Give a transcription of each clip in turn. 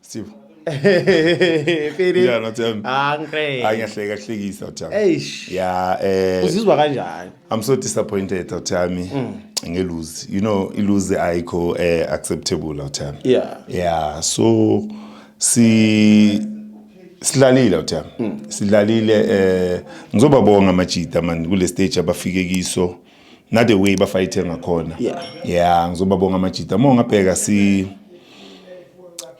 Steve. Fini. Yeah, no tell me. Angre. Angiyahleka kuhlekisa uthami. Eish. Yeah, eh Uzizwa kanjani? I'm so disappointed uthami. Mm. Ngeluzi. You know, iluzi ayikho eh acceptable uthami. Yeah. Yeah, so si silalile uthami. Mm. Silalile eh ngizobabonga amajita man kule stage abafike kiso. nade way bafayithe ngakhona yeah yeah ngizobabonga amajita uma ungabheka si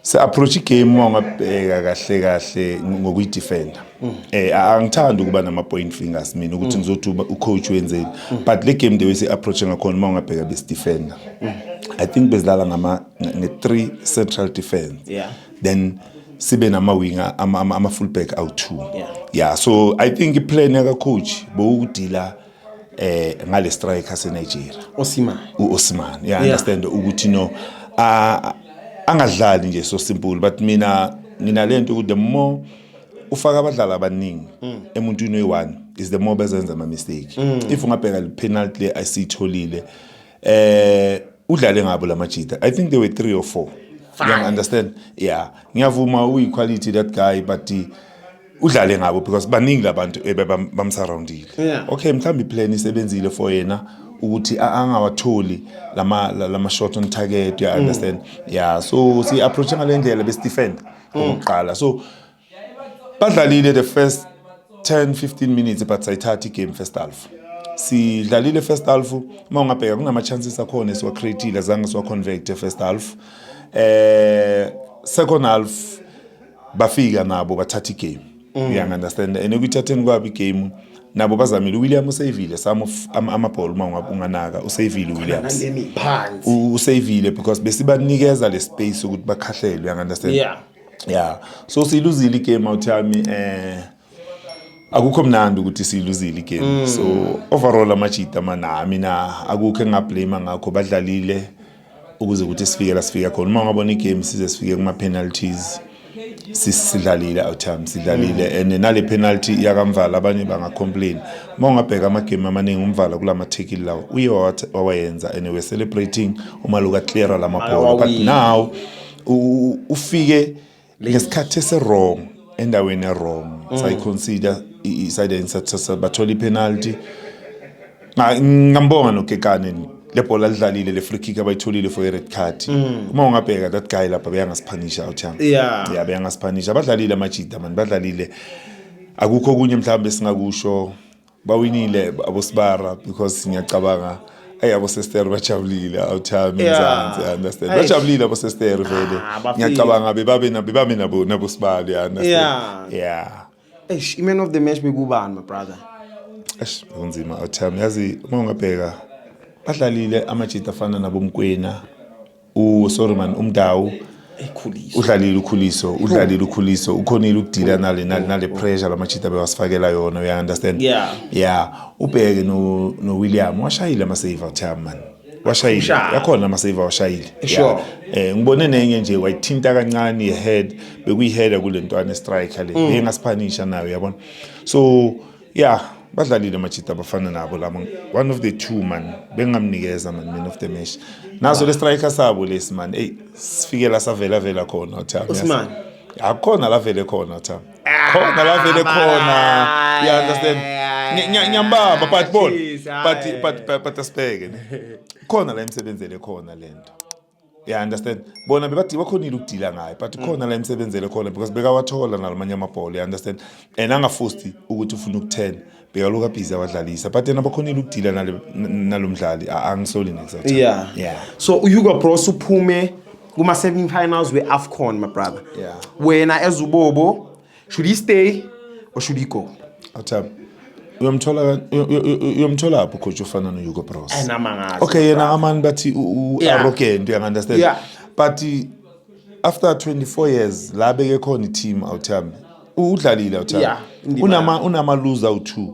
se approach game uma ungabheka kahle kahle ngokuyi defender mm. eh angithandi ukuba nama point fingers mina ukuthi mm. ngizothi u coach wenzeni mm. but le game the way si approach ngakhona uma ungabheka bes defender i think bezidlala ngama nge three central defense yeah then sibe nama winger ama ama fullback out two yeah yeah so i think i plan yaka coach bowudila eh ngale striker seNigeria Osimhen uOsimhen yeah, yeah. understand ukuthi no uh, angadlali nje so simple but mina nginalento ukuthi the more ufaka abadlali abaningi mm. emuntwini oyi-one is the more bezenza ama-mistake mm. if ungabheka le penalty le asiyitholile eh udlale ngabo lamajita i think there were 3 or 4 you understand yeah ngiyavuma uyi quality that guy but the, udlale ngabo because baningi labantu ebebamsurroundile yeah. okay mhlawumbe iplan isebenzile for yena ukuthi angawatholi lama lama shot on target you understand mm. yeah so si approach ngalendlela besi defend mm. oqala so badlalile the first 10 15 minutes but sayithatha igame first half sidlalile first half uma ungabheka kunama-chances akhona esiwa-creatile azange siwa-convecte first half eh second half bafika nabo bathatha igame mm. uyangi-understand and ekuyithatheni kwabo igame nabo bazamile uWilliam usavile some of amabhola uma unganaka usavile uWilliams usavile because besibanikeza le space ukuthi bakhahlelwe uyangi-understand yeah. ya so siyiluzile igame awuthami eh akukho mnandi ukuthi siyiluzile igame mm. so overall amajita manami na akukho engablame ngakho badlalile ukuze ukuthi sifike la sifika khona uma ngabona igame size sifike kuma penalties sisidlalile out time sidlalile mm. and nale penalty yakamvala abanye banga complain uma ungabheka ama game amaningi umvala kulama tackle lawo uye wawayenza and we celebrating uma luka clear lama ball but now ufike ngesikhathi ese-wrong endaweni e-wrong mm. sayiconsider iside ensathasa bathola ipenalty ngambonga nokekane le bhola lidlalile le free kick abayitholile for i-red card mm. uma ungabheka that guy lapha beyangasiphanisha uthang yeah. yeah beyangasiphanisha badlalile amajida mani badlalile akukho okunye mhlawumbe singakusho bawinile abosibara because ngiyacabanga eyi abosesteri bajabulile awuthabe menzansi yeah. understand bajabulile abosesteri ah, vele ngiyacabanga bebabe bebabe nabo nabosibali ya understand yeah yeah eish iman of the match bekubani my brother eish kunzima awuthabe yazi uma ungabheka badlalile amajita afana nabomkwena u sorry man umdawu ekhuliswa udlalile ukhuliso udlalile ukhuliso ukhonile ukudila nale nale nale pressure lamachita bewasifakela yona uya understand Yeah. yeah ubheke no no William washayile ama save out time man washayile Ushaya. yakhona ama save washayile Sure. Yeah. eh ngibone nenye nje wayithinta kancane i head bekuyihela kulentwana striker le Mm. engasiphanisha nayo yabona so ya badlalile amajita abafana nabo laba one of the two man bengamnikeza man man of the match naso le striker sabo lesi man ey sifikela savela vela khona uthami Usman akukhona la vele khona uthami khona la vele khona you understand Ngi- ngi- ngiyambamba but bon Jeez, but ayi. but but- but asibheke ne khona la emsebenzele khona lento ya yeah, understand bona bebathi bakhonile ukudila ngayo but mm. khona la emsebenzele khona because bekawathola nalamanye amabhola ya understand and angafosti ukuthi ufuna ukuthena bekaloku abhizi awadlalisa but yena bakhonile ukudila nalo mdlali angisoli next yeah. yeah so uhugo bros uphume kuma-semi finals we-afcon my brother yeah. wena ezubobo Should he stay or should he go? Athab. Uyomthola uyomthola apho coach ufana no Hugo Bros. Ayinamangazi. Okay yena amani bathi u arrogant uya understand. Yeah. But after 24 years la beke khona i-team awuthami udlalile awuthami yeah, unama unama loser u2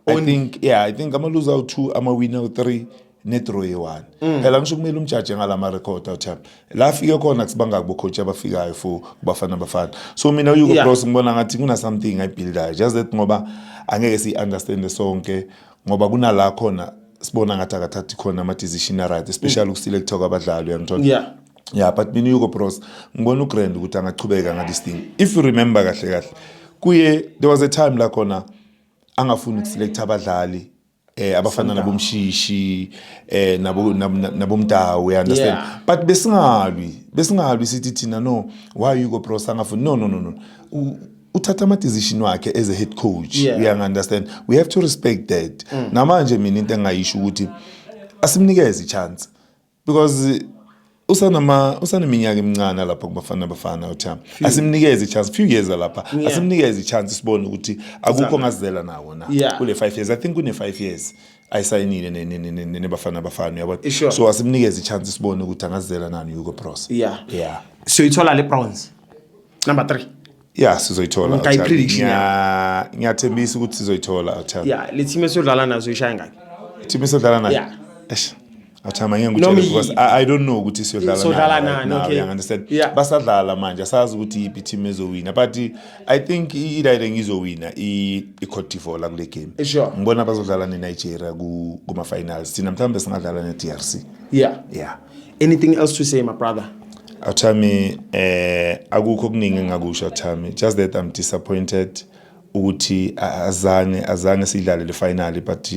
i think yeah i think ama loser u2 ama winner u3 nedraw eyi-one mm. phela ngisho kumele umjaje ngala marekhodi awuthi la afike khona kusibanga kubokhotshi abafikayo for ubafana bafana so mina uyuko yeah. bros ngibona ngathi kuna-something ayibuildayo just that ngoba angeke siyi-understande sonke ngoba kunala khona sibona ngathi akathathi khona ama-decision aright especially mm. ukuselectha kwabadlali uyangithola yeah yeah but mina uyuko bros ngibona ugrand ukuthi angaqhubeka ngalesi thing if you remember kahle kahle kuye there was a time la khona angafuni ukuselectha abadlali eh abafana Somdawu. nabomshishi eh nabo nab- nabomdawu we understand Yeah. but besingalwi besingalwi sithi thina no why you go pro sangafuni no no no no U- uthatha ama decision wakhe as a head coach Yeah. Mm. uya understand we have to respect that namanje mina into engayisho ukuthi asimnikeze i chance because usanama usaneminyaka emincane lapha kubafana bafana uthi asimnikeze ichance few years lapha yeah. asimnikeze ichance sibone ukuthi akukho ngazizela nawo na yeah. kule 5 years i think kune 5 years ayisayinile nebafana bafana uyabo sure. so asimnikeze ichance sibone ukuthi angazizela nani uGo Bros yeah yeah so ithola le bronze number 3 ya sizoyithola ngiyathembisa ukuthi sizoyithola ya le team esodlala nazo ishaya ngakhe team esodlala nayo athama ngeke ngitshele because I, I don't know ukuthi siyodlala siyodlala nani okay you understand yeah. basadlala manje asazi ukuthi ipi team ezowina but I think iDaire ngizowina i Cote d'Ivoire la kule game eh, sure. ngibona bazodlala neNigeria ku kuma finals thina mhlawumbe singadlala neDRC yeah yeah Anything else to say my brother? Athami eh akukho okuningi engakusho Athami just that I'm disappointed ukuthi azange azange sidlale le final but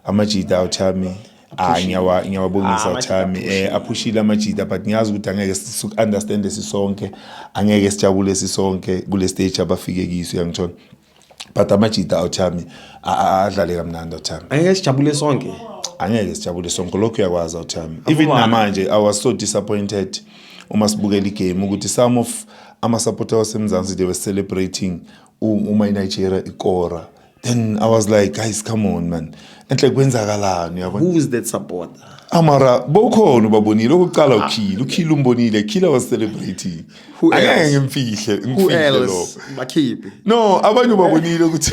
amajita Athami Ah ngiyawa ngiyawabongisa ah, Thami eh aphushile amajita but ngiyazi ukuthi angeke sisu understand sisonke angeke sijabule sisonke kule stage abafike kiso yangithola but amajita awuthami adlale kamnandi awuthami angeke sijabule sonke angeke sijabule sonke lokhu uyakwazi awuthami even namanje i was so disappointed uma sibukela igame ukuthi some of ama-supporter wasemzansi they were celebrating uma inigeria ikora then i was like guys come on man enhle kwenzakalani yabo who is that supporter amara bowukhona ubabonile okokuqala ukhile ukhile umbonile khile was celebrating Who angeke else? ngimfihle Who ngimfihle else? lokho Bakhiphe. no abanye ubabonile ukuthi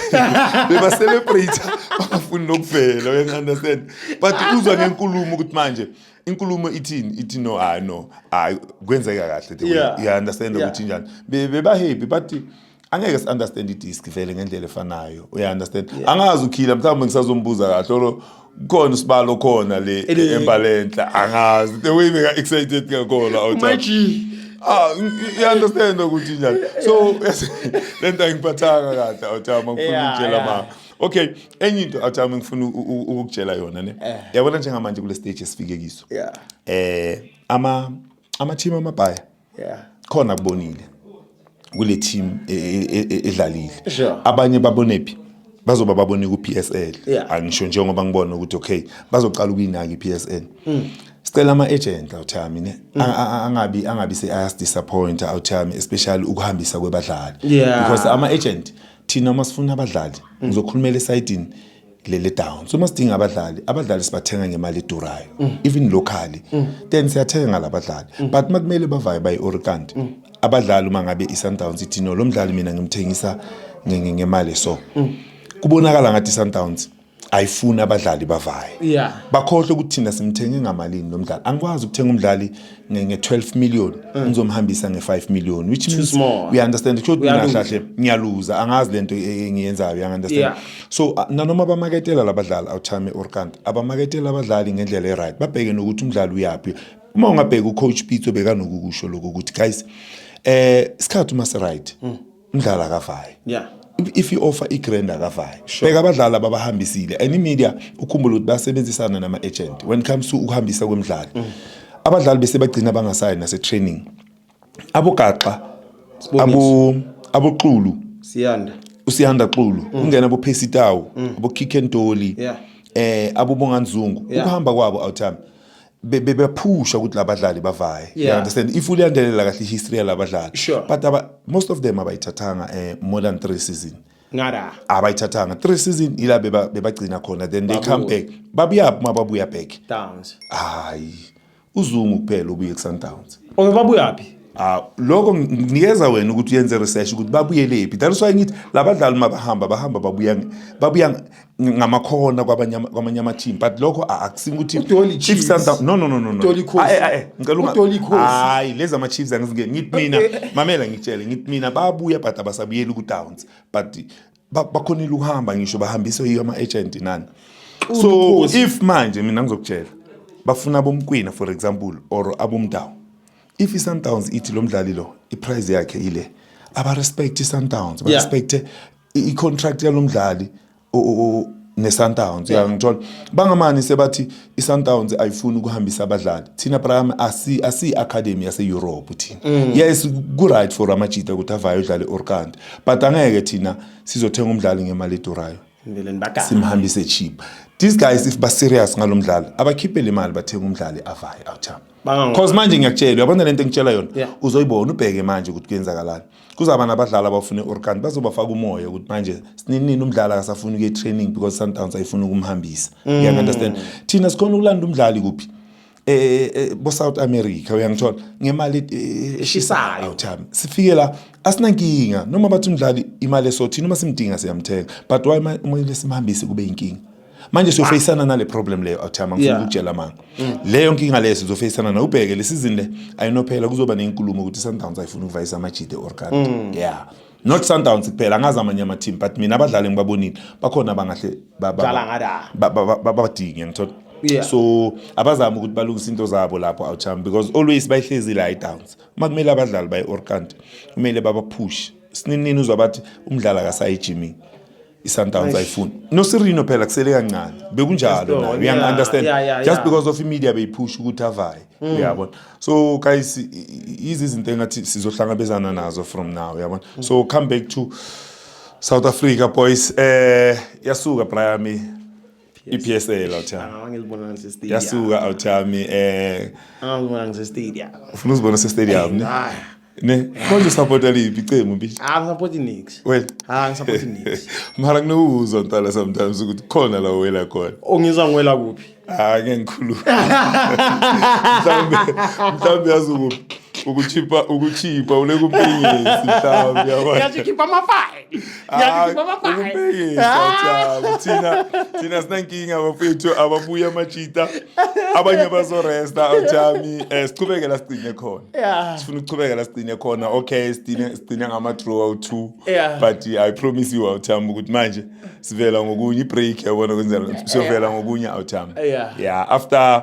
bebacelebrate bangafuni nokuvela uyangi-understand but uzwa ngenkulumo ukuthi manje inkulumo ithini ithi no hayi no hayi kwenzeka kahle the way. Yeah. uya-understanda Yeah. ukuthi njani Be- bebahappy bathi angeke si understand i disk vele ngendlela efanayo uya understand angazi ukhila mhlawumbe ngisazombuza kahle olo khona isibalo khona le Ele- embalenhla angazi the way beka excited kakhona out Maji. ah you understand ukuthi njani so lento ayingiphathanga kahle awuthama ngifuna Yeah, ukutshela yeah. ma okay enye into awuthama ngifuna u- u- ukukutshela yona ne Eh. yabona njengamanje kule stage esifike kiso Yeah. eh ama ama team amabhaya yeah khona kubonile kule team e, e, e, edlalile sure. abanye babonephi bazoba babone ku-PSL yeah. angisho njengoba ngibona ukuthi okay bazoqala ukuyinaka i-PSL mm. sicela ama-agent awuthami ne mm. angabi angabi se-ayas disappoint awuthami especially ukuhambisa kwebadlali yeah. because ama-agent thina uma sifuna abadlali mm. ngizokhulumela esayidini leli downs uma sidinga abadlali abadlali sibathenga ngemali edurayo mm. even locally mm. then siyathenga ngalabadlali mm. but makumele bavaye bayi orikant abadlali uma ngabe isundowns ithi no lo mdlali mina ngimthengisa ngemali so kubonakala ngathi isundowns ayifuni abadlali bavaye yeah. bakhohlwe ukuthi thina simthenge ngamalini lo mdlali angikwazi ukuthenga umdlali nge-12 million mm. ngizomhambisa nge-5 million which Too means small. we understand kusho ukuthi mina kahle ngiyaluza angazi lento e- engiyenzayo you understand Yeah. so uh, nanoma abamaketela labadlali awuthame or kanti abamaketela abadlali ngendlela e-right babheke nokuthi umdlali uyaphi uma ungabheka ucoach pitso bekanokukusho lokho ukuthi guys eh isikhathi uma si-right mm. umdlali akavayo yeah if i-offer i-grand akavayo sure. bheka abadlali ababahambisile and imedia ukhumbula ukuthi basebenzisana nama-agent when it comes to ukuhambisa kwemidlali mm. abadlali bese bagcina bangasayi nase-training abogaxa abo aboxulu siyanda usiyanda xulu mm. ungena abo Percy Tau mm. abo Kick and Dolly yeah. eh abo Bonganzungu yeah. ukuhamba kwabo awuthami bebephusha ukuthi labadlali bavaye yeah. you understand if ulandelela kahle history yalabadlali sure. but aba, most of them abayithathanga eh, more than 3 season ngara abayithathanga 3 season ila beba bebagcina khona then they come back babuya mababuya back downs hayi uzungu kuphela ubuye kusundowns okay babuya phi Ah lokho nginikeza wena ukuthi uyenze research ukuthi babuyelephi. That is why ngithi labadlali mabahamba bahamba babuya babuya ngamakhona kwabanye kwamanye ama team but lokho akusinga ukuthi Chiefs Sundowns no no no no no eh ngicela unga hayi lezi ama Chiefs angizinge ngithi mina eh, eh. mamela ngitshele ngithi mina babuya but abasabuyeli ku Downs but bakhonile ukuhamba ngisho bahambiswe yiyo ama agent nani so if manje mina ngizokutshela bafuna abomkwina for example or abomdawo if iSundowns ithi lo mdlali lo iprize yakhe ile aba respect iSundowns ba respect i-contract yalo mdlali neSundowns uyangithola bangamani sebathi iSundowns ayifuni ukuhambisa abadlali thina prime asi asi academy yase Europe thina mm. yes ku right for amajita ukuthi avayo udlale orkant but angeke thina sizothenga umdlali ngemali edurayo simhambise cheap these guys if ba serious ngalomdlalo abakhiphe le mali bathenga umdlali avayo awuthami because manje ngiyakutshela uyabona lento engitshela yona uzoyibona ubheke manje ukuthi kuyenzakalani Kuzaba nabadlali abafuna i-Orkan bazobafaka umoya ukuthi manje sininini umdlali akasafuni ukuya e-training because Sundowns ayifuni ukumhambisa. Mm. You understand? Thina sikhona ukulanda umdlali kuphi? Eh, eh bo South America uyangithola ngemali eh, eshisayo thami sifike la asinankinga noma bathi umdlali imali esothini uma simdinga siyamthenga but why uma lesimhambisi kube inkinga manje siyofeyisana nale problem leyo awuthama ngifuna ukutshela manga mm. leyo nkinga leyo sizofeyisana nayo ubheke le season le ayinophela kuzoba nenkulumo ukuthi Sundowns ayifuna ukuvayisa amajide or kanti mm. yeah not Sundowns kuphela ngazi amanye ama team but mina abadlali ngibabonile bakhona abangahle babadinge ngithola Yeah. so abazama ukuthi balungise into zabo lapho outcome because always bayihlezi la idowns uma kumele abadlali bayi-orkant kumele babaphushe sininini uzwa bathi umdlali akasayijimini isundowns ayifuni nosirino phela kusele kancane bekunjalo nayo uyangi-understand just because of imedia beyiphusha ukuthi avaye mm. uyabona so guys yizi izinto engathi sizohlangabezana nazo from now uyabona mm. so come back to south africa boys um yasuka briami i-PSL awutha. Angiwange libona nje stadium. Yasuka awuthami eh Angibona nje stadium. ufuna uzibona se stadium ne. Hayi. Ne, konje supporta liphi iqembu mbi? Ah, ngisapoti nix. Well, Ah, ngisapoti nix. mara kunokuzwa ntala sometimes ukuthi khona la wela khona. Ongizwa ngwela kuphi? Ah, ngeke ngikhulume. Mhlawumbe mhlawumbe yazi ukuphi ukuchipa ukuchipa ule kumpenyezi mhlawumbe yabona. Yathi khipha ama-file. thina thina sinankinga bafethu ababuya amajita abanye abazoresta awujami um eh, sichubekela sigcine khona sifuna ukuchubekela sigcine khona okay sigcine ngama-draw awu-two but i promise you awuthami ukuthi manje sivela ngokunye i-break yabona kwenzela siyovela ngokunye awuthami ya after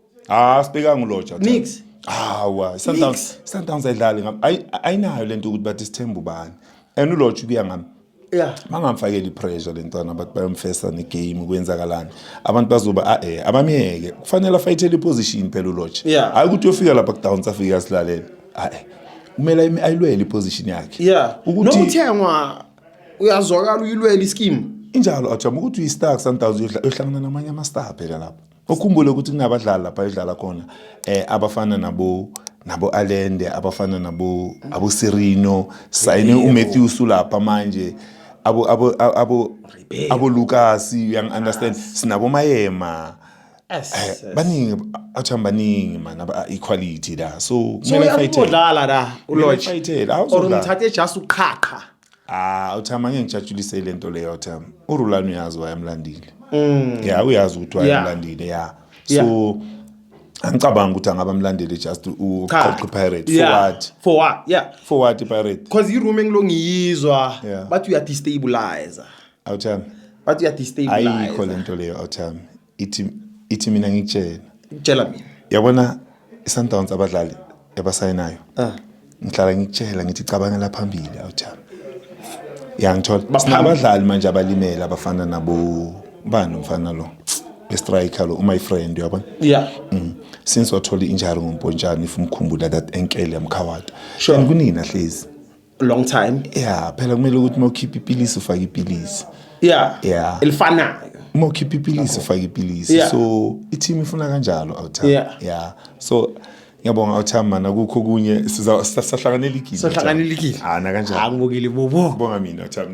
Ah sibeka ngiloja. Nix. Hawa, Sundowns Sundowns ayidlali ngam. Ayinayo lento ukuthi bathi sithemba ubani. And uloja ubuya ngami. Yeah. Bangamfakeli ipressure lentwana abantu bayomfesa negame kwenzakalani. Abantu bazoba a eh abamyeke. Kufanele afayithele iposition phela uloja. Yeah. Hayi ukuthi uyofika lapha kudown safika asilalele. Ah eh. Kumele ayilwele iposition yakhe. Yeah. Ukuthi nokuthengwa uyazwakala uyilwela iskimu injalo ajama ukuthi uyi-star kusundowns uyohlangana namanye ama-star phela lapho Ukhumbule ukuthi kunabadlali lapha edlala khona eh abafana nabo nabo Alende abafana nabo abo Sirino sayine uMatthew Sulapha manje abo abo abo abo Lucas uyang understand sinabo Mayema eh, baningi athamba baningi man aba equality la so kumele fight udlala la uLodge or umthathe just uqhaqha Ah, uthama ngeke ngijatshulise le nto leyo thama. URulani uyazi wayemlandile. Mm. Yeah, uyazi ukuthi wayemlandile, yeah. So yeah. angicabanga ukuthi angaba mlandeli just uqoqe pirate for yeah. what for what yeah for what pirate because i room engilo ngiyizwa yeah. but uya destabilizer awuthami but uya destabilizer ayikho lento leyo awuthami ithi ithi mina ngikutshela tshela mina yabona isundowns abadlali ebasayinayo ah. ngihlala ngikutshela ngithi cabangela phambili awuthami yangithola sinabadlali manje abalimele abafana nabo bani umfana lo bestriker lo my friend uyabona yeah mm. since wathola injalo ngompontshana if umkhumbula that enkele yamkhawata sure. and kunina hlezi long time yeah phela kumele ukuthi uma ukhipha ipilisi ufake ipilisi yeah yeah elifanayo uma ukhipha ipilisi ufake ipilisi yeah. so i-team ifuna kanjalo outam yeah. yeah so ngiyabonga outam mana kukho kunye sisahlanganela igile sahlanganela igile ah nakanjalo angibukile bobo bonga mina outam